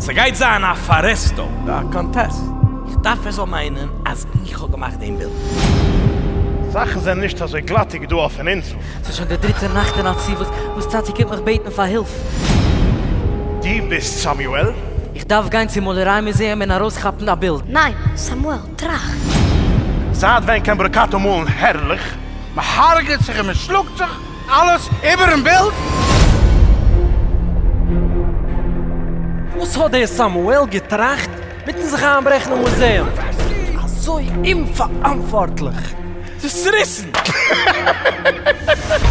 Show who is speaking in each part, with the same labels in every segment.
Speaker 1: ס'גייט זיין א פארעסטו א קאנטעסט.
Speaker 2: איך דארף ער זאל
Speaker 1: מיינען אז איך האב געמאכט דעם בילד.
Speaker 3: זאכן זענען נישט אזוי גלאטיג דא אויפן אינזל. ס'איז שוין די דריטע נאכט
Speaker 4: אין א צי וואס וואס טאטי קומט מיך בעטן פאר הילף.
Speaker 3: דו ביסט סאמיועל? איך דארף גיין צום
Speaker 4: מאלעריי מוזעאום און ארויסכאפן א בילד. ניין, סאמועל,
Speaker 5: טראכט. זייט
Speaker 3: ווען קען ברוקאטא מאלן הערליך? מ'הארגעט
Speaker 2: זיך און מ'שלאגט זיך. אלעס איבערן בילד?
Speaker 6: וואס האט דער סאמועל געטראכט מיטן זיך איינברעכן אין מוזעאום אזוי אומפאראנטווארטליך?
Speaker 1: צעריסן!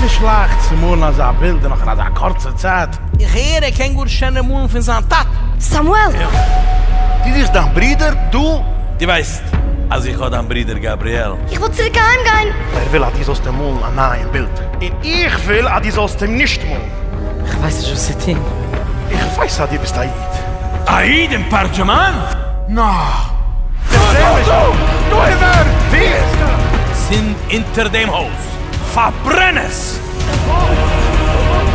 Speaker 2: נישט לייכט צו מאלן אזא בילד און נאך אין אזא קורצע צייט. איך הער ער קען
Speaker 1: גאר שענער מאלן פון זיין טאטע. סאמועל!
Speaker 5: דו
Speaker 2: זוכסט דיין ברודער דא? דו ווייסט
Speaker 1: געזאגט אז איך האב דיין ברודער גבריאל. איך וויל צוריק אהיים
Speaker 5: גיין. ער וויל אז דו זאלסט אים
Speaker 3: מאלן א נייעם בילד. און איך וויל אז דו זאלסט אים נישט מאלן. איך ווייס נישט וואס
Speaker 4: צו טון. איך ווייס אז
Speaker 3: דו ביסט א איד. א איד אין
Speaker 1: פארדזשומען?
Speaker 2: נאו!
Speaker 3: צינד
Speaker 1: אונטער דעם הויז! פארברען עס!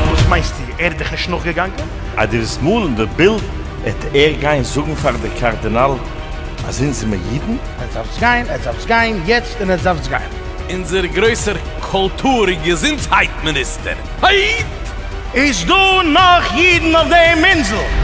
Speaker 3: וואס מיינסטו? ער איז דיך נישט נאכגעגאנגען? אז דו וועסט מאלן
Speaker 7: די בילד. 'עט ער גיין זאגן פאר די קארדינאל אז אונז זעמער אידן? עטס דארפטס גיין, עטס דארפטס
Speaker 2: גיין יעצט און עטס דארפטס גיין! אונזער גרויסער
Speaker 1: קולטור און געזונטהייט מיניסטער! היי! איז דא
Speaker 3: נאך אידן אויף דעם אינזל?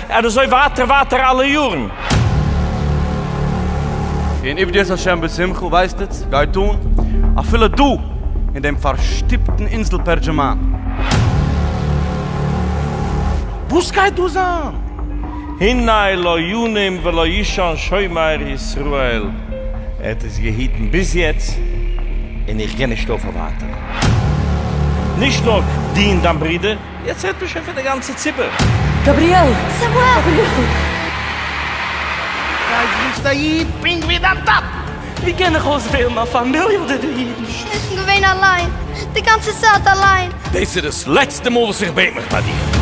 Speaker 7: ער איז אזוי ווייטער ווייטער אלע יארן.
Speaker 8: און עבדו את ה' בשמחה, ווייסט'ץ, גייט אן אפילו דא אין דעם פארשטופטן אינזל פערדזשעמאן. וואס גייט דא זיין? הנה
Speaker 7: לא ינום ולא ישן שומר ישראל. ער האט עס געהיטן ביז יעצט, און איך גיי נישט אויפהער ווייטער. נישט נאר דו און דיין ברודער. יעצט רעדט מען שוין פון די גאנצע ציבור. גבריאל!
Speaker 4: סעמואל! גבריאל!
Speaker 2: ווייז ווי ביסט א איד, פונקט ווי דיין טאטן! ווי קען איך
Speaker 4: אויסוועלן א פאמיליע אדער די אידן? שניטן געווען
Speaker 5: אליין, די גאנצע צייט אליין. דאס איז דאס לעצטע
Speaker 1: מאל וואס איך בעט מיך ביי דיר.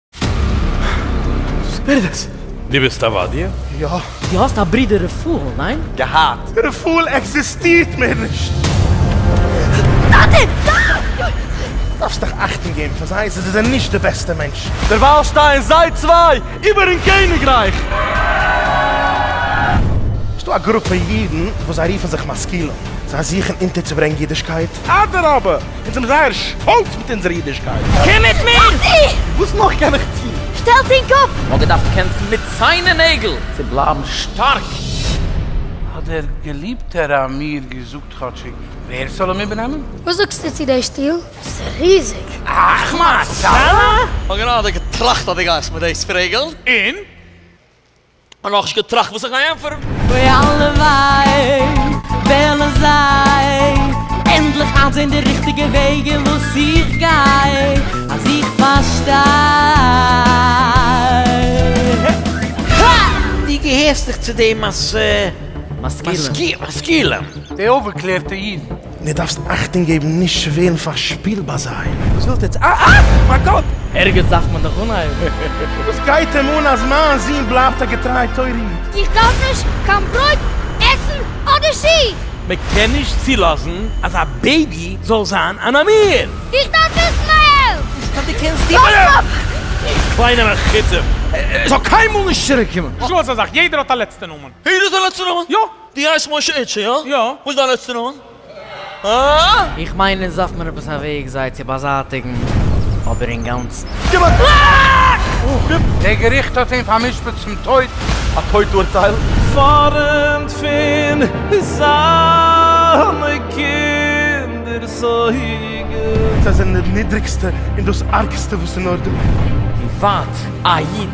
Speaker 7: ווער איז דאס? דו ביסט עבדיה? יא. דו האסט א
Speaker 3: ברודער
Speaker 4: רפאל, ניין? געהאט. רפאל
Speaker 3: עקזיסטירט מער נישט!
Speaker 5: טאטע! ניין!
Speaker 3: דארפסט דיך אכטונג געבן פאר זיי, זיי זענען נישט די בעסטע מענטשן. דערווייל שטייען
Speaker 8: זיי צוויי איבערן קעניגרייך!
Speaker 3: ס'דא א גרופע אידן וואס זיי רופן זיך משכילים, זיי זוכן אונטערצוברענגן אידישקייט. אדרבה! אונז זעמיר זייער שטאלץ מיט אונזער אידישקייט! קום מיט מיר!
Speaker 4: וואס נאך קען
Speaker 8: איך טון? שטעלט אין קאפ!
Speaker 5: מ'האט געדארפט קעמפן מיט
Speaker 4: ציין און נעגל צו בלייבן שטארק!
Speaker 2: האט דער געליבטער עמיר געזאגט כאטשיג ווער ס'זאל אים איבערנעמען. וואס זאגסטו צו דעי
Speaker 5: שטול? ס'איז ריזיג! אכמ
Speaker 2: הצלה? כ'האב גענוי אזוי
Speaker 9: געטראכט אז דו גייסט מיט דאס פרעגלן,
Speaker 10: און?
Speaker 9: און נאכנישט געטראכט וואס איך גיי ענטפערן. אוי הלוואי
Speaker 4: וועלן זיי ענדליך איינזעהן די ריכטיגע וועג אין וואס איך גיי, אז איך פארשטיי.
Speaker 2: דו געהערסט דאך צו די משכילים.
Speaker 4: די אויפגעקלערטע
Speaker 2: אידן. די דארפסט אכטונג
Speaker 3: געבן נישט צו ווערן פארשפילט ביי זיי. וואס ווילסטו יעצט? אה אה!
Speaker 2: מיין קאפ! ערגעץ דארף מען דאך
Speaker 4: אנהייבן. וואס גייט
Speaker 3: אים אן אז מיין זון בלייבט א געטריי תורה איד? איך דארף נישט
Speaker 5: קיין ברויט, עסן, אדער שיך! מען קען נישט
Speaker 7: צולאזן אז א בעיבי זאל זיין אן אמיר! איך דארף עסן
Speaker 5: מיין העלפט! נישט אז דו קענסט טון
Speaker 2: מיין העלפט!
Speaker 7: קליינער עקיצה! ער זאל קיינמאל
Speaker 2: נישט צוריקקומען! נישט לאז א זאך, יעדער האט א
Speaker 10: לעצטע נאמען! יעדער האט א לעצטע נאמען?
Speaker 9: יא! דו הייסט משה
Speaker 10: איטשע,
Speaker 9: יא? יא. וואס איז דיין לעצטע נאמען? הא? איך מיין אונז
Speaker 4: דארף מען עפעס א וועג זיי צו באזייטיגן, אבער אינגאנצן. דער
Speaker 2: געריכט האט אים פאר'משפט צום טויט. א טויט אורטייל?
Speaker 8: פארנט
Speaker 7: פון זיינע קינדערס אויגן. זיי זענען די נידריגסטע
Speaker 3: און דאס ארגסטע וואס איז נאר דא. ווי ווייט
Speaker 4: א איד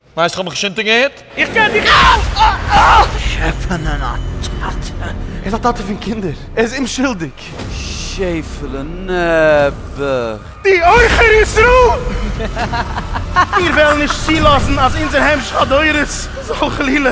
Speaker 10: ווייסט כ'האב מיך נישט אונטערגעהערט.
Speaker 9: איך קען דיך
Speaker 10: אויך! שעפענען א
Speaker 8: טאטע! ער איז א טאטע פון קינדער! ער איז אומשולדיג! שעפעלע נעבעך! די עוכר
Speaker 3: ישראל! מיר וועלן נישט צולאזן אז אונזער המשך הדורות זאל חלילה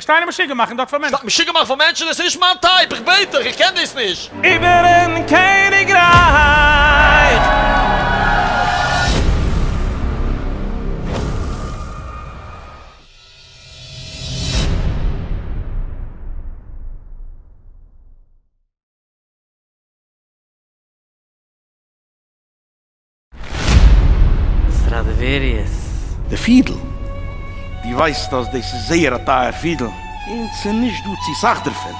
Speaker 9: שטיין
Speaker 10: און משוגע מאכן דארט פאר מענטשן. שטיין משוגע מאכן פאר מענטשן? עס איז
Speaker 9: נישט מיין טייפ, איך בעט דיך, איך קען דאס נישט. איבערן
Speaker 7: קעניגרייך.
Speaker 4: סטראַדיוועריוס. די פידל.
Speaker 3: דו ווייסט אז דאס איז זייער א טייער פידל. און ס'איז נישט דא צו סאך דערפון.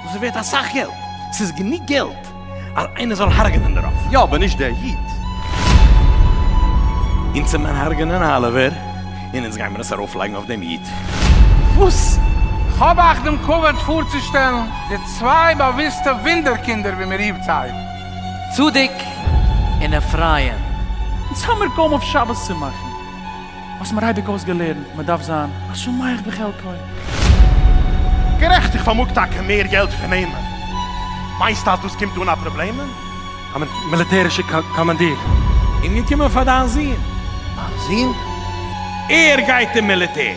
Speaker 3: דאס איז ווערט אסאך געלט. ס'איז גענוג געלט אז איינער זאל הרג'נען דערויף. יא, אבער נישט דער איד.
Speaker 7: אונז וועט מען הרג'נען אליווער, און אונז גיימער עס ארויפלייגן אויף דעם איד. וואס?
Speaker 2: כ'האב אייך דעם כבוד פארצושטעלן די צוויי באוויסטע וואונדער-קינדער ווי מ'רופט זיי. צדיק
Speaker 4: און אפרים. אונז האמיר
Speaker 11: קוים אויף שבת צו מאכן, האסט מיר אייביג אויסגעלערנט מען דארף זיין א שמח בחלקו.
Speaker 3: גערעכט איך פארמאג טאקע מער געלט פון אים, מיינסט אז דאס קומט אן א פראבלעם? א
Speaker 8: מיליטערישע קאמאנדיר. און געקומען
Speaker 7: פאר דיין זון. מיין זון? ער גייט אין מיליטער.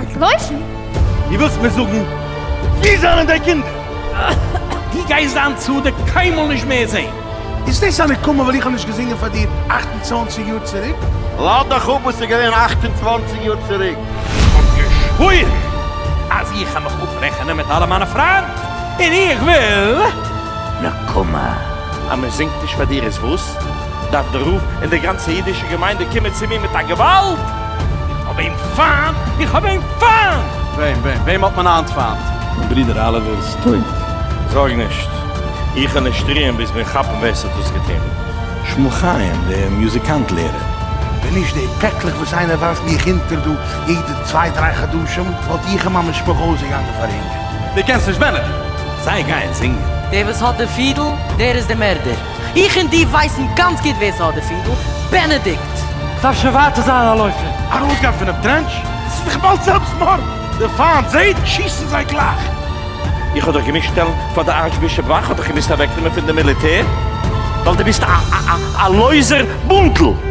Speaker 5: א גרויסן? דו ווילסט
Speaker 8: מיר
Speaker 3: זאגן
Speaker 8: ווי
Speaker 3: זענען די
Speaker 8: קינדער? דו
Speaker 3: גייסט דיין צדק קיינמאל נישט מער זעהן. איז דאס א נקמה
Speaker 12: ווייל איך האב נישט געזינגען פאר דיר אַכט און צוואַנציק יאר צוריק? לאז דיך אפ
Speaker 13: וואס איז געווען אַכט און צוואַנציק יאר צוריק. כ'האב געשוואוירן
Speaker 3: אז איך העמעך אפרעכענען מיט אלע מיינע פריינט און איך וויל נקמה. אז מ'זינגט נישט
Speaker 7: פאר דיר איז וואס? דארף דער רב און די גאנצע אידישע געמיינדע קומען צו מיר מיט א געוואלד! איך האב אים פיינט! איך האב אים פיינט! וועם? וועם? וועם האט
Speaker 8: מען היינט פיינט? מיין ברודער אליווער
Speaker 7: איז טויט! זארג נישט, איך וועל נישט רוען ביז מיר כאפן ווער ס'האט דאס געטון! שמואל חיים,
Speaker 3: דער מוזיקאנט לערער. ווען נישט די
Speaker 12: פעקלעך וואס איינער ווארפט מיך אונטער דא יעדע צוויי דריי חדשים, וואלט איך און מיין משפחה אויסגעגאנגען פארהונגערט. דו קענסט נישט
Speaker 8: בענעטן? זיי גייען
Speaker 3: זינגען. דער וואס האט די
Speaker 4: פידל, דער איז די מערדער! איך און דו ווייסן גאנץ גוט ווער ס'האט די פינטל, בענעדיקט! כ'דארף שוין
Speaker 11: ווייטער זיין א לויפער. ארויסגיין פונעם
Speaker 3: טרענטש? ס'איז דאך באלד זעלבסטמארד! די פיינט זעהט, שיסן זיי גלייך! איך האב דיך
Speaker 7: געמוזט שטעלן פאר די ארטשבישאפ ווייל כ'האב דיך געמוזט אוועקנעמען פון די מיליטער ווייל דו ביסט א לויזער בונדל!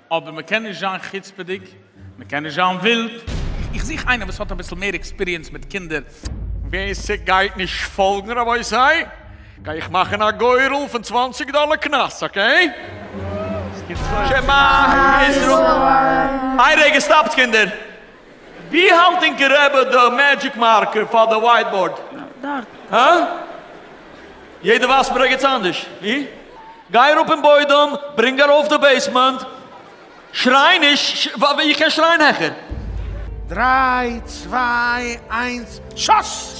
Speaker 10: אבער מען קען נישט זיין חוצפה'דיג, מען קען נישט זיין ווילד. איך זוך איינער וואס האט אביסל מער עקספיריענס מיט קינדער. ווער ס'גייט
Speaker 9: נישט פאלגן רבותי גיי איך מאכן א גורל פון צוואנציג דאלער קנס אקעי? שמע ישראל! איי רגע סטאפט קינדער! ווי האלט ענקער רבי די מעדזשיק מארקער פאר די ווייט באורד?
Speaker 4: דארט.
Speaker 9: הא? יעדער ווייזט מיר ערגעץ אנדערש. ווי? גיי אראפ אין בוידעם, ברענג ארויף די בעיסמענט. שריי נישט, איך קען שרייען העכער. דריי,
Speaker 12: צוויי, איינס, שאס!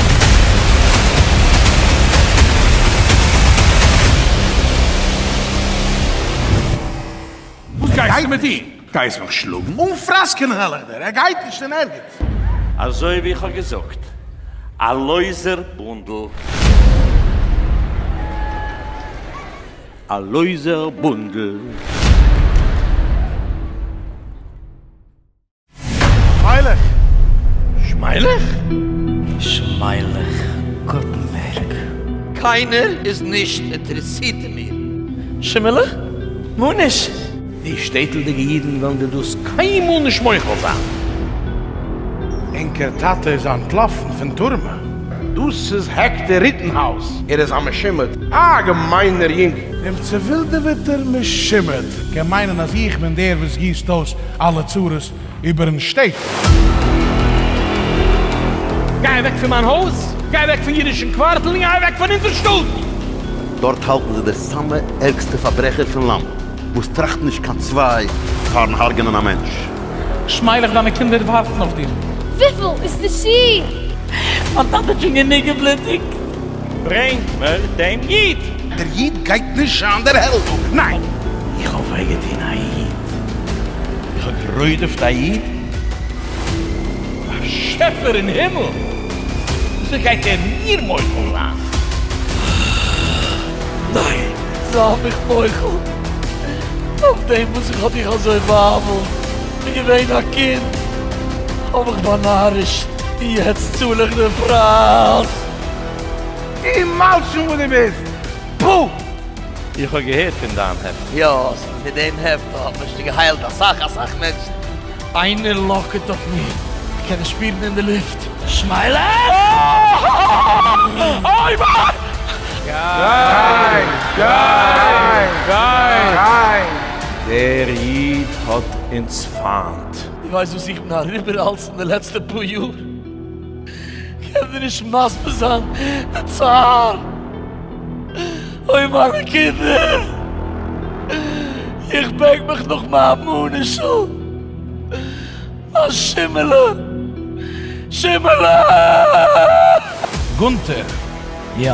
Speaker 3: וואס גייסטו מיט אים? גייסט מיך שלאגן? אן פראסקענען א לעדער?
Speaker 12: ער גייט נישט אין ערגעץ! אזוי
Speaker 7: ווי איך האב געזאגט, א לויזער בונדל. א לויזער בונדל.
Speaker 12: שמיילעך!
Speaker 3: שמיילעך!
Speaker 4: שמיילעך! גוטנבערג! קיינער
Speaker 9: איז נישט אינטערעסירט אין מיר! שימעלע!
Speaker 7: נו נישט! די
Speaker 3: שטעטלדיגע אידן וועלן דיר דאס קיינמאל נישט מוחל זיין!
Speaker 12: ענקער טאטע איז אנטלאפן פון טורמע! דאס איז
Speaker 3: העקטער ריטענהאוז! ער איז א משומד! א געמיינער יונגל! דעם צעווילדעוועטער
Speaker 12: משומד! קען מיינען אז איך בין דער וואס גיסט אויס אלע צרות איבערן שטעט. גיי אוועק
Speaker 1: פון מיין הויז, גיי אוועק פון אידישן קווארטל, און גיי אוועק פון אונזער שטאט! דארט
Speaker 13: האלטן זיי די סאמע ערגסטע פארברעכער פון לאנד, וואס טראכטן נישט קיין צוויי פארן הרג'נען א מענטש. ש'מיילעך
Speaker 11: דיינע קינדער ווארטן אויף דיר. וויפיל איז די
Speaker 5: שיך? מיין טאטע
Speaker 11: האט שוין גענוג געבלוטיגט. ברענג
Speaker 7: מיר דעם איד! דער איד גייט
Speaker 3: נישט שיין דער העלד, ניין! איך האב וויי
Speaker 7: געטון א איד. איך האב גערוידעפט א איד? באשעפער אין הימל! וויאזוי גייט ער מיר מוחל זיין?
Speaker 9: ניין! זיי מיך מוחל! נאכדעם וואס איך האב דיך אזוי באהאוועלט און געווען א קינד האב איך באנארישט און יעצט צאל איך די פרייז!
Speaker 2: און מלשין וואס דו ביסט! פו! איך
Speaker 7: האב געהערט פון דיין העפט. יא, מיט דעם
Speaker 9: העפט האט מען שוין געהיילט אסאך אסאך מענטשן. איינער לאקעט אויף מיר, כ'קען עס שפירן אין די לופט. שמייל אויף! אוי
Speaker 2: וויי!
Speaker 7: דער איד האט אונז פיינט. דו ווייסט וואס איך בין
Speaker 9: אריבער אלס אין די לעצטע פאר יאר? קען דיר נישט מסביר זיין די צער, אוי מיינע קינדער, איך בענק מיך נאך מיין מאניש'ל, מיין שימעלע, שימעלע!
Speaker 1: גונטער, יא.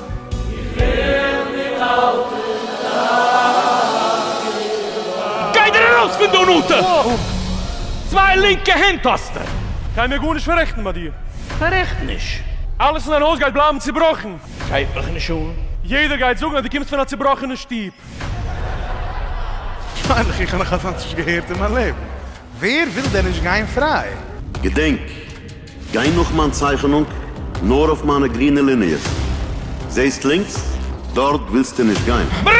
Speaker 1: גיי דיר ארויס פון דא נאטע! צוויי לינקע הענט האסטו! גיי מיר גארנישט
Speaker 8: פארעכטן ביי דיר! פארעכט נישט!
Speaker 1: אלעס אין דיין הויז גייט
Speaker 8: בלייבן צובראכן! גייט מיך נישט אן!
Speaker 1: יעדער גייט זאגן אז דו
Speaker 8: קומסט פון א צובראכענע שטוב!
Speaker 12: מיינעך איך האב נאך אזאנס נישט געהערט אין מיין לעבן! ווער וויל דען נישט גיין פריי? געדענק,
Speaker 13: גיי נאך מיין צייכענונג, נאר אויף מיינע גרינע ליניעס. זעהסט לינקס? דארט ווילסטו נישט גיין. ווי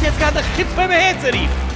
Speaker 13: דער
Speaker 1: סגן די חוצפה אהער צו רופן?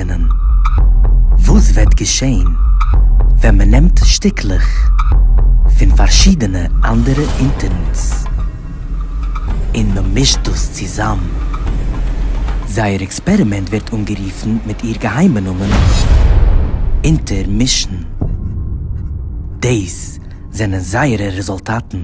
Speaker 14: אויסרעכענען וואס וועט געשעהן ווען מען נעמט שטיקלעך פון פארשידענע אנדערע אינטערנס און מען מישט דאס צוזאם. זייער עקספערימענט ווערט אנגערופן מיט איר געהיימע נאמען אינטערמישן. דאס זענען זייערע רעזולטאטן.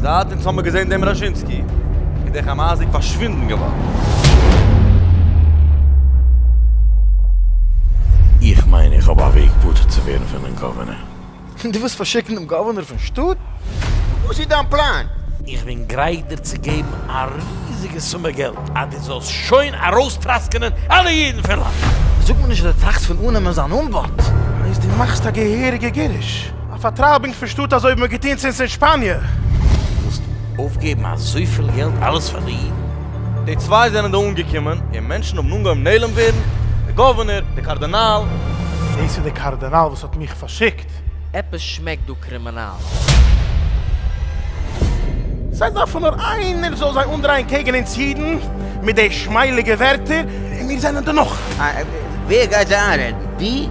Speaker 14: זייט אונז
Speaker 8: האמער געזען דעם ראזשינסקי איז דער חאמאסניק פארשווינדן געווארן. איך
Speaker 7: מיין איך האב א וועג פטור צו ווערן פונעם גאווערנער. דו ווילסט
Speaker 3: פארשיקן דעם גאווערנער פון שטאט? וואס איז
Speaker 9: דיין פלאן? איך בין גרייט
Speaker 7: דיר צו געבן א ריזיגע סומע געלט אז דו זאלסט שוין ארויסטראסקענען אלע אידן פון לאנד. זאג מיר נישט אז דו
Speaker 3: טראכסט פון אננעמען זיין אנבאט. אז דו מאכסט
Speaker 12: א געהעריגע גירוש. א פארטרייבונג פון שטאט אזוי ווי מען האט געטון צונס אין שפאניע. דו ווילסט
Speaker 7: אויפגעבן אזויפיל געלט אלעס פאר די אידן? די צוויי
Speaker 8: זענען דא אנגעקומען און מענטשן האבן אנגעהויבן נעלם ווערן, די גאווערנער, די קארדינאל. דאס איז די
Speaker 12: קארדינאל וואס האט מיך פארשיקט? עפעס שמעקט
Speaker 14: דא קרימינאל.
Speaker 12: זיי דארפן נאר איינער זאל זיי אנדרייען קעגן אונז אידן מיט די שמייליגע ווערטער, און מיר זענען דערנאך. ווער גייט
Speaker 9: זיי איינרעדן? דו?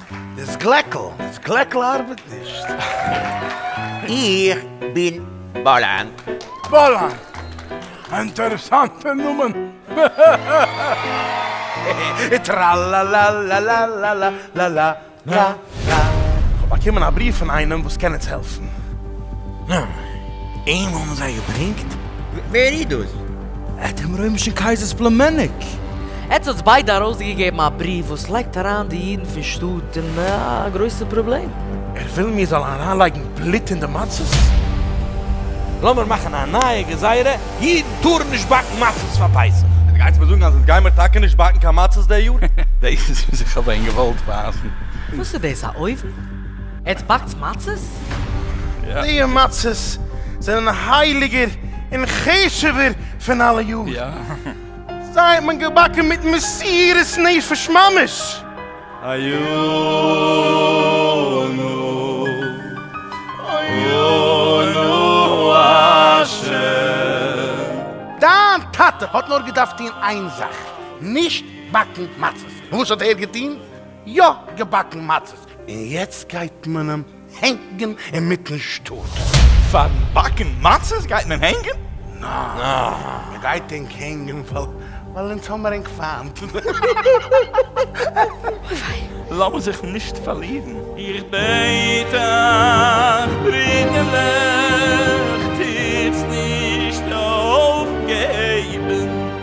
Speaker 15: דאס
Speaker 12: גלעקל, דאס גלעקל ארבעט נישט. איך
Speaker 9: בין באלאן. באלאן?
Speaker 12: א אינטערעסאנטע נאמען. טראלאלאלאלאלאלאלאלאלאלא. כ'האב באקומען א בריוו פון איינעם וואס קען אונז העלפן.
Speaker 7: אים האבן זיי געברענגט? ווער איז
Speaker 9: דאס? עט דעם רוימישן
Speaker 3: קייזער'ס פלומעניק. עטס האטס
Speaker 14: ביידע ארויסגעגעבן א בריוו וואס לייגט אריין די אידן פון שטאט אין א גרויסע פראבלעם. ער וויל מיר זאלן
Speaker 12: אריינלייגן בלוט אין די מצות?
Speaker 7: לאמיר מאכן א נייע גזירה, אידן טארן נישט באקן מצות פאר פסח! עטס גייטס מיר זאגן אז עטס
Speaker 8: גיימיר טאקע נישט באקן קיין מצות די יאר? דאס איז וואס איך
Speaker 15: האב ווען געוואלט ווייסן. וואס איז דאס א
Speaker 14: אויוון? עטס באקטס מצות? די
Speaker 15: מצות
Speaker 12: זענען הייליגער און חשוב'ער פון אלע יאר.
Speaker 15: זיי האט
Speaker 12: מען געבאקן מיט מסירות נפש ממש. הוינו הוינו השם. דיין טאטע האט נאר געדארפט טון איין זאך, נישט באקן מצות. וואס האט ער געטון? יא געבאקן מצות. און יעצט גייט מען אים הענגן אינמיטן שטאט. פארן
Speaker 15: באקן מצות גייט מען אים הענגן? ניין,
Speaker 12: מען גייט ענק הענגן ווייל אונז האמער ענק פיינט.
Speaker 15: לאמיר זיך נישט פארלירן. איך בעט אייך ברידערלעך, טוטס נישט אויפגעבן.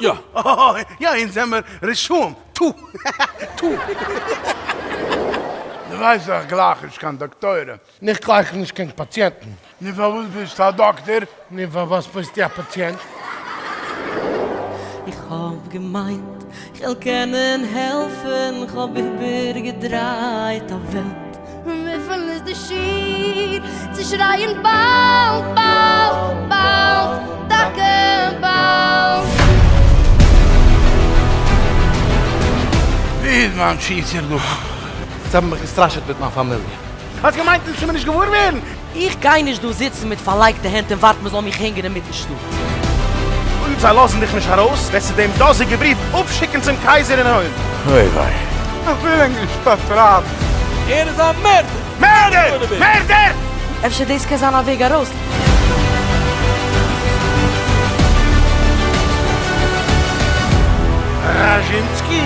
Speaker 7: יא. יא
Speaker 12: אונז זעמער רשעים. טו. טו. די ווייסט איך גלייך נישט קיין דאקטוירים. איך גלייך נישט קיין פאציענטן. נו פארוואס ביסטו א דאקטער? נו פארוואס ביסטו א פאציענט? איך
Speaker 4: האב געמיינט כ'וועל קענען העלפן כ'האב איבערגעדרייט א וועלט. וויפיל איז
Speaker 5: די שיעור צו שרייען באלד באלד באלד טאקע באלד?
Speaker 3: ווי
Speaker 12: איז מיין
Speaker 3: פיצער
Speaker 12: דא?
Speaker 3: זיי האבן מיך
Speaker 12: געסטראשעט
Speaker 3: מיט מיין
Speaker 12: פאמיליע.
Speaker 3: האסט
Speaker 12: געמיינט עס טאר מען נישט געוואר ווערן? איך גיי נישט דא
Speaker 4: זיצן מיט פארלייגטע הענט און ווארטן מ'זאל מיך הענגען אינמיטן שטאט. אויב
Speaker 3: זיי לאזן דיך נישט ארויס, וועסטו דעם דאזיגן בריוו אפשיקן צום קייזער אין הויף. אוי וויי. איך
Speaker 7: וויל אין די
Speaker 12: שטאט רב. ער איז א
Speaker 9: מערדער! מערדער!
Speaker 3: מערדער! אפשר דאס קען
Speaker 4: זיין א וועג ארויס.
Speaker 12: ראזשינסקי,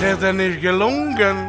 Speaker 12: ס'איז דיר נישט געלונגען.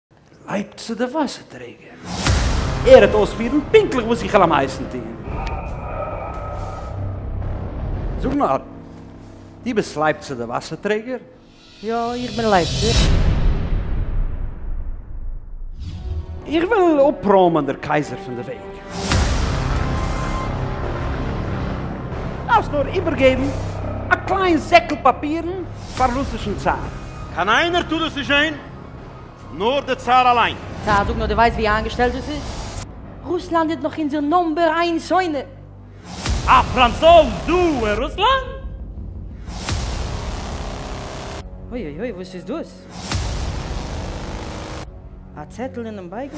Speaker 3: לייבט צו די וואסער טרעגער. ער העט אויספירן פונקטליך וואס איך העל אים הייסן טון. זאג נאר, דו ביסט לייבט צו די וואסער טרעגער? יא, איך
Speaker 4: בין לייבט צו. איך
Speaker 3: וויל אפראמען דער קייזער פון די וועג. דארפסט נאר איבערגעבן א קליין זעקל פאפירן פאר רוסישן צאר. קיין איינער
Speaker 7: טאר עס נישט זען? נאר די צאר אליין. צאר זאג נאר די ווייסט ווי
Speaker 4: איינגעשטעלט דאס איז? רוסלאנד איז נאך אונזער נאמבער איין שונא. א
Speaker 1: פראנצויז דא אין רוסלאנד?
Speaker 4: אוי אוי אוי וואס איז דאס? א צעטל אינעם בייגל?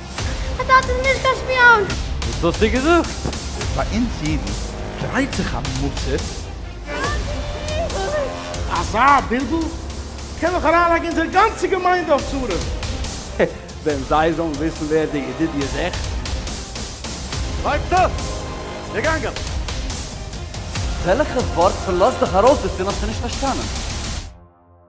Speaker 3: א
Speaker 5: טאטע איז נישט קיין שפיאן!
Speaker 8: וואס האסטו געזאגט? ביי אונז אידן דרייט זיך א מצב.
Speaker 12: אזא בלבול קען דאך אריינלייגן אונזער גאנצע געמיינדע אויף צרות. ווען
Speaker 3: זיי זאלן וויסן ווער די ידידי איז עכט. לייגט צו!
Speaker 8: געגאנגען! וועלכע ווארט פון לאז דיך ארויס דערפון האסטו נישט פארשטאנען?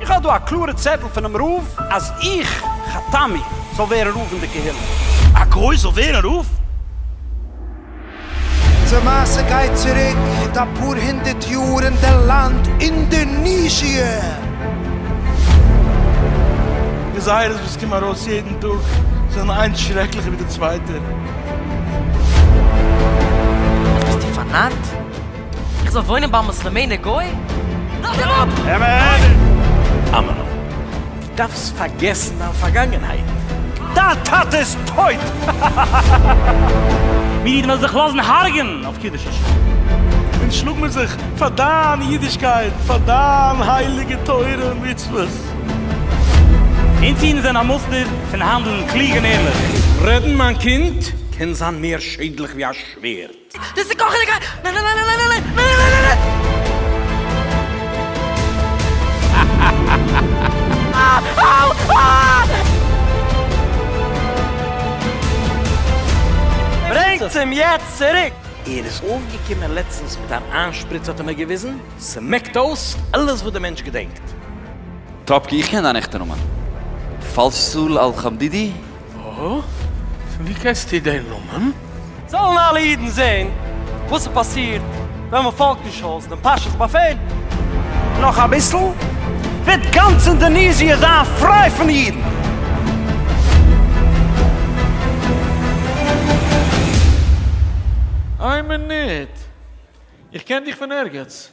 Speaker 3: איך האב דא א קלארע צעטל פונעם רב אז איך, חתמי, זאל ווערן רב אין די קהילה. א גוי זאל ווערן רב?
Speaker 16: די מעשה גייט צוריק מיט אפאר הונדערט יאר אין די לאנד אינדערניזשיע.
Speaker 3: די זייערס וואס קומען ארויס יעדן טאג זענען איינס שרעקליכער ווי די צווייטע.
Speaker 17: ביסטו פארנארט? איך זאל וואוינען ביי מוסלעמענער גוי? לאזט אים אפ! אמת!
Speaker 3: אמן! דו דארפסט פארגעסן דיין פארגאנגענהייט! דיין טאטע איז טויט!
Speaker 11: מיר אידן וועלן זיך לאזן הרג'ען אויף קידוש השם! אונז
Speaker 3: שלאג מיר זיך פאר דיין אידישקייט! פאר דיין הייליגע תורה און מצוות! אונז
Speaker 11: אידן זענען א מוסטער פון האנדלן קלוג און ערליך! רעדן מיין
Speaker 3: קינד קען זיין מער שעדליך ווי א שווערד! דאס איז קאכענע
Speaker 17: קאווע!
Speaker 3: ברענגטס אים יעצט צוריק! ער איז אויפגעקומען לעצטנס מיט אן איינשפריץ האט ער מיר געוויזן, ס'מעקט אויס אלעס וואס די מענטש געדענקט. טראפקי
Speaker 18: איך קען דיין עכטע נאמען. פאלסול אל חמדידי? אָהאָ,
Speaker 10: פֿון וווּ קענסטו דעם נאָמען? זאָלן אַלע
Speaker 17: ייִדן זען וואָס ס'פּאַסירט ווען מע פֿאָלגט נישט אויס דעם פּאַשעס באַפֿעל. נאָך אַ
Speaker 3: ביסל וועט גאַנץ אינדאָניזיע זײַן פֿרײַ פֿון ייִדן.
Speaker 11: איין מינוט, איך קען דיך פון ערגעץ.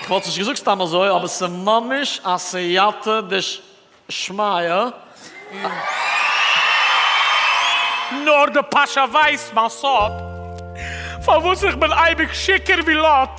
Speaker 9: כ'וואלט עס נישט געזאגט סתם אזוי, אבער ס'ממש א סייעתא דשמיא.
Speaker 10: נאר די פאשא ווייסט מיין סוד. פארוואס איך בין אייביג שיכור ווי לוט.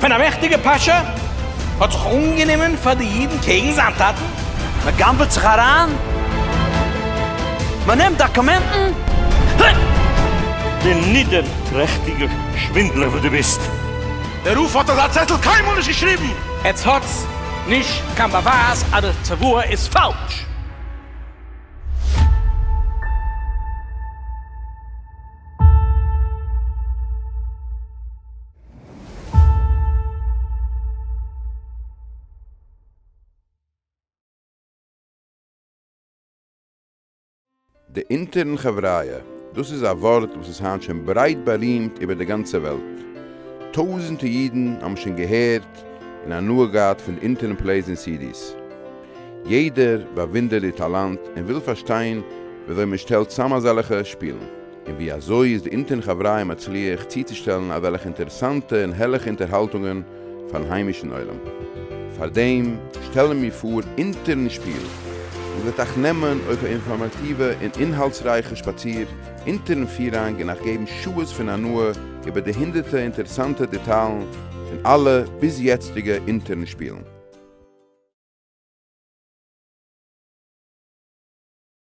Speaker 3: ווען א מעכטיגע פאשא האט זיך אנגענומען פאר די אידן קעגן זיין טאטן. מען גנב'עט זיך אריין, מען נעמט דאקומענטן, הע!
Speaker 7: די נידערטרעכטיגע שווינדלער וואס דו ביסט! דער רופא האט
Speaker 3: אזא צעטל קיינמאל נישט געשריבן! עטס האטס נישט קיין באווייז אז די צוואה איז פאלש!
Speaker 19: די אונטערן חבריא, דאס איז א ווארט וואס איז היינט שוין ברייט בארימט איבער די גאנצע וועלט. טויזענטע אידן האבן שוין געהערט און הנאה געהאט פון די אונטערן פלעיס און סידיס. יעדער באוואונדערט די טאלאנט און וויל פארשטיין וויאזוי מען שטעלט צאם אזעלכע שפילן. און ווי אזוי איז די אינטערן חבריא מצליח צוצושטעלן אזעלכע אינטערעסאנטע און הערליכע אינטערהאלטונגען פארן היימישן עולם? פארדעם שטעלן מיר פאר אינטערן שפיל איר וועט אייך נעמען אויף א אינפארמאטיווע און אינהאלטסרייכע שפאציר אינטערן פירהאנג און אייך געבן שעות פון הנאה איבער די הונדערטע אינטערעסאנטע דעטאלן פון אלע ביז יעצטיגע אינטערן שפילן.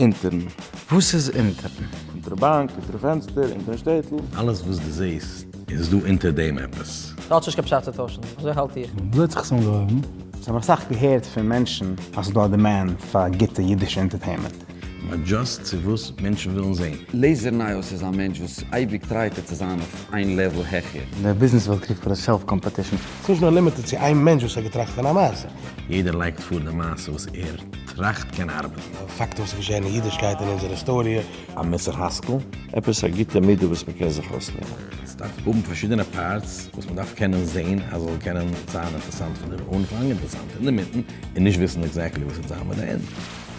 Speaker 20: אונטערן. וואס איז
Speaker 21: אונטערן? אונטער די באנק,
Speaker 20: אונטער די פענסטער, אונטערן שטעטל. אלעס וואס דו זעהסט.
Speaker 22: איז דא אונטער דעם עפעס? ס'האט שוין נישט קיין פשט צו טוישן,
Speaker 23: אזוי האלט איך. וואו האט זיך עס אנגעהויבן?
Speaker 21: כ'האב אסאך געהערט
Speaker 24: פון מענטשן אז ס'איז דא א דימענד פאר גוטע אידישע אינטערטעימענט. באט דזשאסט
Speaker 22: צו וואס מענטשן ווילן זעהן. לעזער נייעס איז א
Speaker 18: מענטש וואס אייביג טרייט ער צו זיין אויף איין לעוועל העכער. די ביזנעס וועלט קריגט
Speaker 21: פאר די סעלף קאמפעטישן. ס'איז נישט נאר לימיטעד צו
Speaker 25: איין מענטש וואס האט געטראכט פון א מעשה. יעדער לייגט פאר
Speaker 22: די מעשה וואס ער טראכט קען ארבעטן. פאקטן וואס איז געשען אין
Speaker 25: אידישקייט אין אונזער היסטאריע. א מוסר השכל?
Speaker 7: עפעס א גוטע מידה וואס מען קען זיך אויסלערנען? עס דארף האבן
Speaker 22: פארשידענע פארטס וואס מען דארף קענען זעהן אז עס זאל קענען זיין אינטערסאנט פון דער אנפאנג, אינטערסאנט אינדערמיטן, און נישט וויסן עקזעקטלי וואס עס וועט זיין ביי די ענד.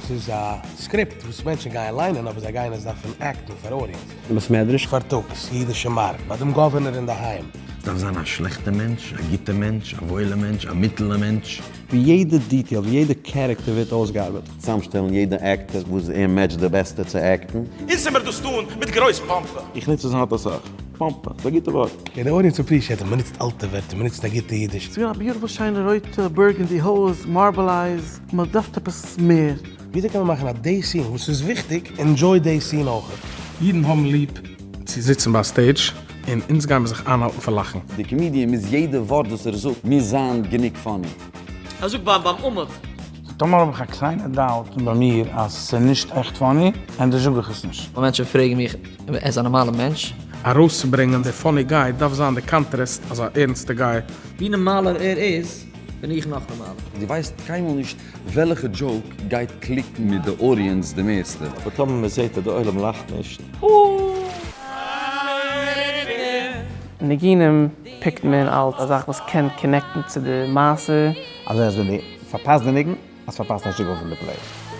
Speaker 22: עס איז א
Speaker 25: סקריפט וואס מענטשן גייען ליינען אבער זיי גייען עס דארפן עקטן פאר אודיענס. באסמעדריש.
Speaker 22: פארטאגס, אידישע
Speaker 25: מארק, ביי דעם גאווערנער אינדערהיים. עס דארף זיין א שלעכטע
Speaker 22: מענטש, א גוטע מענטש, א וואוילע מענטש, א מיטעלע מענטש. ווי יעדע
Speaker 26: דיטעיל, ווי יעדע קערעקטער ווערט אויסגעארבעט. צאמשטעלן יעדע
Speaker 13: עקטער וואס ער מעטשט די בעסטע צו עקטן. אונז זעמער דאס טאן
Speaker 3: מיט גרויס פאמפע. איך נוץ עס האט אסאך.
Speaker 7: פאמפע איז א גוטע ווארט. די אודיענס אפרישיעט
Speaker 25: אז מ'נוצט אלטע ווערטער, מ'נוצט א גוטע אידיש. ס'געווען א ביוטיפול שיינע
Speaker 20: רויטע בורגענדי הויז, מארבל אייז, מען דארף עפעס מער. וויאזוי קען מען מאכן אז
Speaker 25: די סין וואס איז וויכטיג ענדזשוי די סין אויכעט? אידן האבן ליב
Speaker 2: צו זיצן ביי א סטעידזש און אונז גיימער זיך איינהאלטן פון לאכן. די קאמידיען מוז
Speaker 18: יעדע ווארט וואס ער זאגט מוז זיין גענוג פאני. ער זאגט ביים
Speaker 17: אומעט. סאו טאמער האב איך א
Speaker 21: קליינע דאוט ביי מיר אז סאיז נישט עכט פאני, ענדערש זאג איך עס נישט. ווען מענטשן פרעגן מיך אויב
Speaker 17: ער איז א נארמאלע מענטש. ארויסצוברענגען די
Speaker 2: פאני גיי דארף זיין די קאנטרעסט אז א ערנסטע גיי. ווי נארמאלער
Speaker 17: ער איז בין איך נאך נארמאלער. די ווייסט קיינמאל
Speaker 18: נישט וועלעכע דזשאוק גייט קליקן מיט די אודיענס די מערסטע. אבער טאמער מען זעהט אז
Speaker 7: די עולם לאכט נישט.
Speaker 27: ניגונים פיקט מען אלס א זאך וואס קען קאנעקטן צו די מעשה. אז עס ווען די
Speaker 24: פארפאסט די ניגון אז פארפאסט א שיגעון פון די פלעי.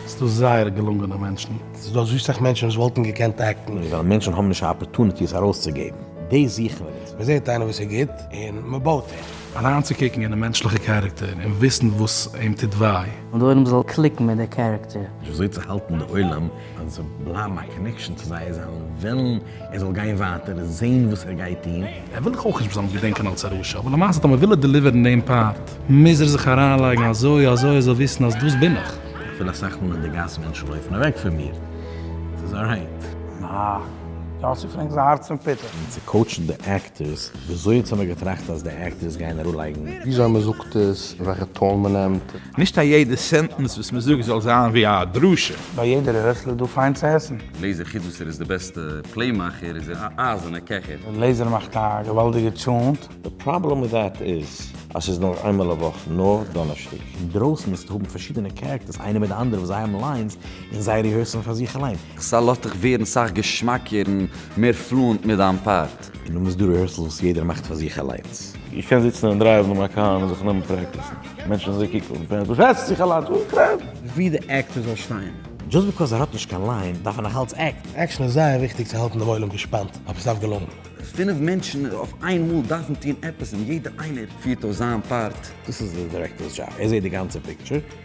Speaker 24: ס'דא זייער
Speaker 21: געלונגענע מענטשן. ס'דא אזוי סאך מענטשן
Speaker 25: וואס וואלטן געקענט עקטן. נישט ווייל מענטשן האבן נישט א
Speaker 22: אפערטוניטי עס ארויסצוגעבן. דאס זוכן מיר נישט. מ'זעט איינער וואס איז גוט
Speaker 25: און מ'בויט אים. אריינצוקוקן אינעם מענטשליכע
Speaker 2: קערעקטער און וויסן וואס אים טוט וויי. און די עולם זאל קליקן
Speaker 27: מיט די קערעקטער. וויאזוי צו האלטן די
Speaker 22: עולם אז עס זאל בלייבן א קאנעקשאן צו זיי זיי וועלן. ער זאל גיין ווייטער זעהן וואס ער גייט טוהן. ער וויל דאך אויך נישט מ'זאל אים
Speaker 2: געדענקען אלס א רשע, אבער למעשה טאמער וויל ער דעליווערן דעם פארט, מוז ער זיך אריינלייגן אזוי אזוי ער זאל וויסן אז דאס בין איך. איך פיל אסאך מאל אין די גאס
Speaker 22: מענטשן לויפן אוועק פון מיר, ס'איז אלרייט. אה, יאסי פרענק איז א הארץ פון פיטער.
Speaker 21: און צו קאוטשן די
Speaker 22: טעסט, וויאזוי האט זימער געטראכט אז די עקטערס גייען אראפלייגן? וויאזוי מ'זאגט
Speaker 21: עס, וועלכע טאן מ'נעמט. נישט א יעדע
Speaker 28: סענטענס וואס מ'זאגט זאל זיין ווי א דרשה. ביי יעדער רעסלער
Speaker 21: איז דא פיין צו עסן. לעיזער חוץ וואס ער איז די
Speaker 18: בעסטע פלעי מאכער איז ער א אייזענע קעכער. לעיזער מאכט א
Speaker 21: געוואלדיגע טשאונט. די פראבלעם מיט
Speaker 7: דעט איז אז ס'איז נאר איינמאל א וואך, נאר דאנערשטאג. אינדרויסן וועסטו האבן
Speaker 22: פארשידענע קערעקטערס איינער מיט די אנדערע וואס זיי האבן ליינס און זיי ריהערסן פאר זיך אליין. סא לאזט דיך ווערן
Speaker 18: סאך געשמאקער און מער פלואענט מיט דיין פאר. גערעכט. און דו מוזט דו ריהערסעלס
Speaker 22: וואס יעדער מאכט פאר זיך אליינס. איך קען זיצן און
Speaker 7: דרייוון מיין קאר און זיך נעמען פרעקטיסן. מענטשן זאלן קוקן און פערן וואס רעדסטו זיך אליינס אן קרעמפ? ווי די עקטער זאל
Speaker 21: שטיין. דזשאסט ביקאוז ער האט נישט
Speaker 22: קיין ליין דארף ער נאכאלץ עקט. עקשן איז זייער וויכטיג
Speaker 25: צו האלטן דעם עולם געשפאנט אויף עס אויף געלונגן. פינף מענטשן
Speaker 18: אויף איין מאל דארפן טון עפעס און יעדער איינער פירט אויס זיין פארט. דאס איז די דירעקטארס
Speaker 22: דזשאב ער זעהט די גאנצע פיקטשער.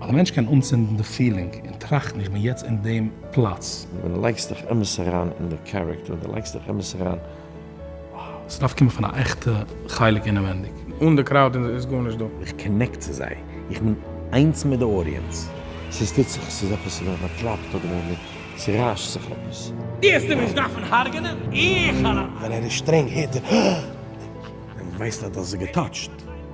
Speaker 24: אז א מענטש קען
Speaker 2: אנצינדן די פילינג און טראכטן איך בין יעצט אין דעם פלאץ. ווען די לייגסט דיך אמת
Speaker 7: אריין אין די קערעקטער, ווען די לייגסט דיך אמת אריין, wow.
Speaker 2: ס'דארף קומען פון א עכטע חלק אינעווענדיג. אן די קראוד איז גארנישט דא. איך קאנעקט צו זיי,
Speaker 22: איך בין איינס מיט די אודיענס. ס'איז טוט זיך,
Speaker 7: ס'איז עפעס, ס'ווערט באקלאפט אדער מען ווערט, ס'ריישט זיך עפעס. העסטו נישט דארפן
Speaker 1: הרג'נען, איך האלא. ווען ער איז שטרענג הערט
Speaker 25: ער. ווען
Speaker 22: מען ווייסט אז דאס איז געטאטשט.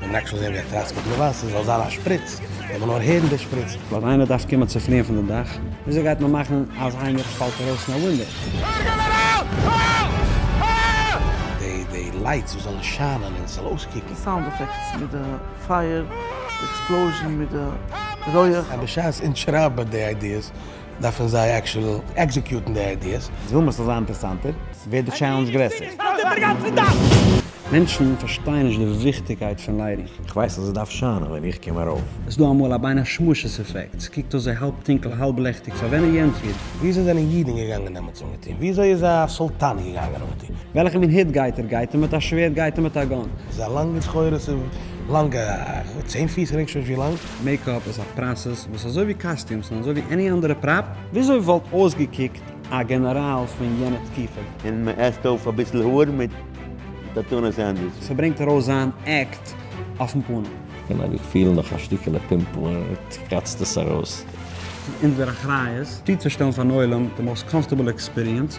Speaker 4: מען מעג שוין זען ווי ער קראצט מיט געווייס, עס זאל זיין א שפריץ, מען זאל נאר הערן די שפריץ. ווייל איינער דארף קומען צו
Speaker 26: פליען פון די דאך, וויאזוי גייט מען מאכן אז איינער פאלט ארויס פון א ווינדאו?
Speaker 4: די די לייטס וואס זאלן שיינען און עס זאל אויסקוקן. די סאונד עפעקטס מיט די
Speaker 20: פייער, די עקספלאוזשען מיט די רויעך. בשעת אונז
Speaker 4: שרייבן די איידיעס דארפן זיי עקשועל עקזעקיוטן די איידיעס. איז וואו מ'זאל זיין אינטערסאנטער,
Speaker 26: ווערט די טשעלענדזש גרעסער. מענטשן פארשטייען נישט די וויכטיגקייט פון ליידיג. איך ווייס אז עס דארף
Speaker 22: שיינען ווען איך קום ארויף. עס דא אמאל א בין
Speaker 26: השמשות אפעקט, ס'קוקט אויס ווי האלב טונקל האלב לעכטיג פאר ווען ער יענטפערט. וויאזוי זענען אידן
Speaker 4: געגאנגען דעמאלטס אנגעטון? וויאזוי איז א סולטאן געגאנגען אנגעטון? וועלכע מין היט גייט ער?
Speaker 26: גייט ער מיט א שווערד? גייט ער מיט א גאן? ס'איז א לאנגע סחורה,
Speaker 4: ס'איז לאנגע, צען פיס רענג שוין ווי לאנג. מעיקאפ איז א
Speaker 26: פראסעס וואס אזוי ווי קאסטיומס און אזוי ווי עני אנדערע פראפ. וויאזוי וואלט אויסגעקוקט א גענעראל פון יענע תקופה? און מען עסט אויף
Speaker 13: אביסל האר מיט טאטונא סענדוויטש. ס'ברענגט ארויס זיין
Speaker 26: עקט אויפן פנים. קען אבי פילן נאך
Speaker 22: א שטיקעלע פימפל און ער קראצט עס ארויס. ס'איז אונזער
Speaker 26: אחריות צוצושטעלן פארן עולם די מאוסט קאמפארטעבל עקספיריענס.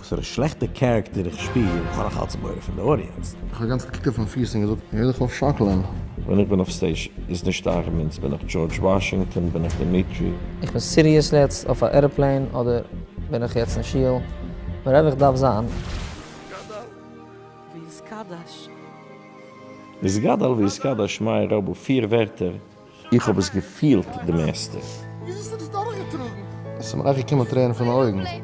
Speaker 22: וואסערע שלעכטע קערעקטער איך שפיר, איך האב נאך אלץ מורא פון די אודיענץ. איך האב גאנץ געקוקט אויפן
Speaker 25: פיס און געזאגט, הער דיך אויף שאקלען. ווען איך בין אויף
Speaker 22: סטעיזש איז נישט אייך מינס, בין איך דזשארדזש וואשינגטאן, בין איך דמיטרי. איך בין סיריעס
Speaker 23: לעצט אויף א עראפלעין אדער בין איך יעצט אין שול, ווערעווער איך דארף זיין.
Speaker 20: גדל
Speaker 22: ויתקדש. איז גדל ויתקדש מאיר רבו פיר ווערטער? איך האב עס געפילט די מערסטע. ווי אזוי האסטו דאס
Speaker 25: דורכגעטראגן? עס איז מיר אויך געקומען טרערן פון די אויגן.
Speaker 23: ווען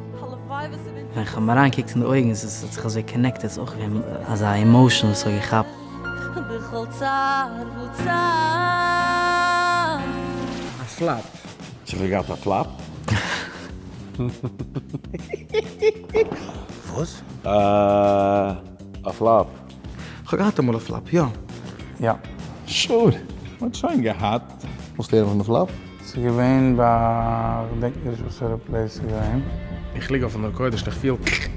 Speaker 23: איך האב אריין געקוקט אין די אויגן עס האט זיך אזוי קאנעקטעד עס איז אויך געווען אזא עמאושען וואס האט געכאפט. בכל צער וצער. א
Speaker 26: פלאפ. צו כ'האב געהאט א
Speaker 22: פלאפ?
Speaker 4: וואס?
Speaker 22: א פלאפ. כ'האב געהאט
Speaker 20: אמאל א פלאפ, יא. יא.
Speaker 21: שור!
Speaker 28: מ'האט שוין געהאט. וואס לערנט מען די פלאפ?
Speaker 25: ס'איז געווען
Speaker 21: ביי כ'דענק נישט וואסערע פלעיס ס'איז געווען. איך ליג אויפן
Speaker 2: מקוה דיש און איך פיל קרעק.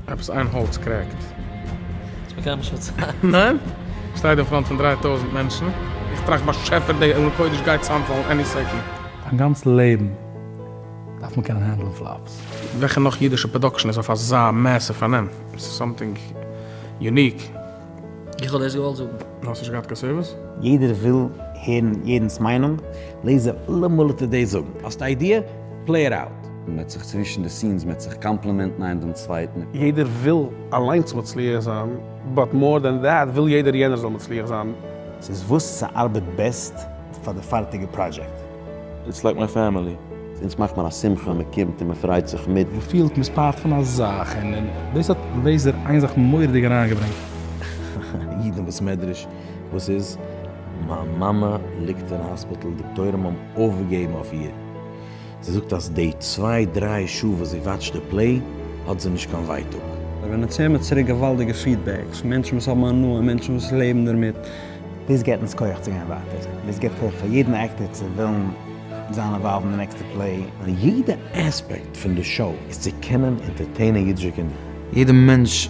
Speaker 2: עפעס איין האלץ קרעקט. ס'איז מיר
Speaker 23: קיינמאל נישט פארציילט. ניין? כ'שטיי
Speaker 2: דא אין פראנט פון דריי טויזנט מענטשן. איך טראכט באשעפער די מקוה דיש גייט צוזאמפאלן עני סעקאנד. דיין גאנץ לעבן דארף מען קענען הענדלן פלאפס. וועלכע נאך אידישע פראדאקשן איז אויף אזא מעסיוו פארנעם? עס איז סאמטינג יוניק. איך
Speaker 23: האב דאס געוואלט זאגן. נו האסט נישט געהאט קיין סערוויס?
Speaker 2: יעדער וויל
Speaker 26: הערן יעדנס מיינונג, לעז זיי אלעמאל אט די דעי זאגן. האסט א איידיע? פלעי איט אוט. מען וועט זיך צווישן די סינס מען וועט זיך קאמפלימענטן איינער דעם צווייטן. יעדער וויל
Speaker 29: אליינס מצליח זיין, באט מאר דען דעט וויל יעדער יענער זאל מצליח זיין. ס'איז וואס
Speaker 26: ס'ארבעט בעסט פאר די פארטיגע פראדזשעקט. איטס לייק מיי
Speaker 22: פעמילי. אונז מאכט מען א
Speaker 13: שמחה, מען קומט און מען פריידט זיך מיט. מען פילט מען איז פארט פון א
Speaker 2: זאך, און און דאס האט בעזר איין זיך מורא'דיג אריינגעברענגט.
Speaker 22: איד אין בית מדרש, וואס איז? מיין מאמע ליגט אין האספיטל, דאקטוירים האבן אויפגעגעבן אויף איר, זי זאגט אז די צוויי דריי שעה וואס זי וואטשט די פלעי האט זי נישט קיין ווייטאג. ווען מען צעהמערט
Speaker 26: צוריק געוואלדיגע פידבעקס, מענטשן וואס האבן הנאה, מענטשן וואס לעבן דערמיט, דאס געט אונז כח צו גיין ווייטער, דאס געט כח פאר יעדן עקטער צו ווילן זיין אינוואלווד אין די נעקסטע פלעי. די יעדע
Speaker 22: עספעקט פון די שאו איז צו קענען אינטערטעינען אידישע קינדער. יעדע מענטש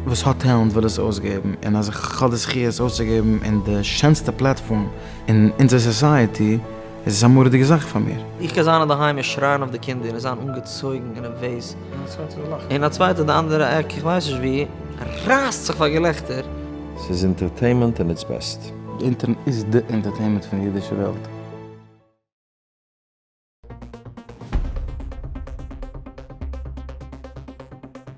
Speaker 5: וואס האט טעלענט וויל עס אויסגעבן, און אז איך האב די זכי' עס אויסצוגעבן אין די שענסטע פלעטפארם אין אונזער סאסייעטי, עס איז א מורא'דיגע זאך פאר מיר. איך קען זיין אינדערהיים און
Speaker 23: שרייען אויף די קינדער און זיין אנגעצויגן און נערוועז, און א צווייטער אין די אנדערע עק, איך ווייס נישט וואו, רייסט זיך פאר געלעכטער. ס'איז
Speaker 22: אינטערטעימענט אין איטס בעסט. די אינטערנעט איז
Speaker 5: די אינטערטעימענט פון די אידישע וועלט.